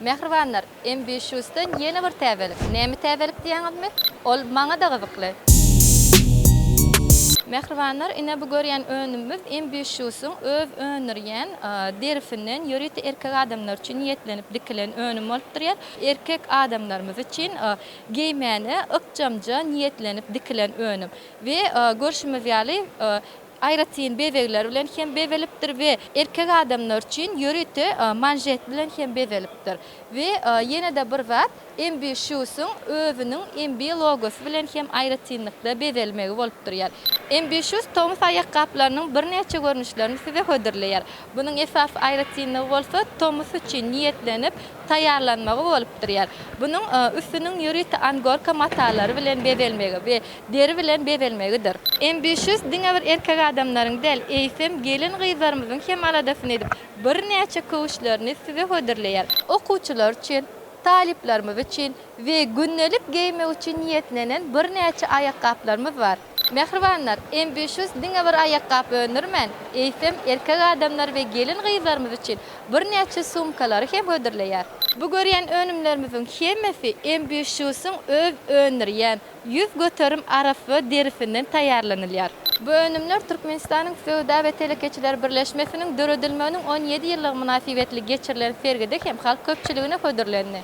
Mähribanlar, Embişusdan ýene bir täzelik. Näme täzelik diýýäňizmi? Ol maňa-da gyzykly. Mähribanlar, ine bu görýän önümimiz Embişusyň öz öndürýän derisinden ýörite erkek adamlar üçin niýetlenip dikilen önüm bolup durýar. Erkek adamlarymyz üçin geýmäne ykjamja niýetlenip dikilen önüm. We görşümiz ýaly, aýratyn bezegler bilen hem bezelipdir we erkek adamlar üçin ýörite manžet bilen hem bezelipdir we ýene-de bir zat MB Shoes-yň özüniň MB logosy bilen hem aýratynlykda bezelmegi bolup durýar. MB Shoes tomus aýakgaplarynyň birnäçe görnüşlerini size hödürleýär. Bunuň esasy aýratynlygy bolsa tomus üçin niýetlenip taýýarlanmagy bolup durýar. Bunuň üstüniň ýörite angorka matalary bilen bezelmegi we deri bilen bezelmegidir. Ambitious diňe bir erkek adamlaryň däl, eýsem, gelin-gyzlarymyzyň hem aladasyny edip, birnäçe köwüşlerini size hödürleýär. Okuwçylar üçin, talyplarymyz üçin we gündelik geýmek üçin niýetlenen birnäçe aýakgaplarymyz bar. Mähribanlar, Ambitious diňe bir aýakgap öndürmän, eýsem, erkek adamlar we gelin-gyzlarymyz üçin birnäçe sumkalary hem hödürleýär. Bu görýän önümlerimiziň hemmesi Ambitious-yň öz öndürýän, Ýüz göterim arassa derisinden taýýarlanylýar. Bu önümler Türkmenistanyň Söwda we telekeçiler birleşmesiniň döredilmeginiň on ýedi ýyllygy mynasybetli geçirilen sergide hem halk köpçüligine hödürlendi.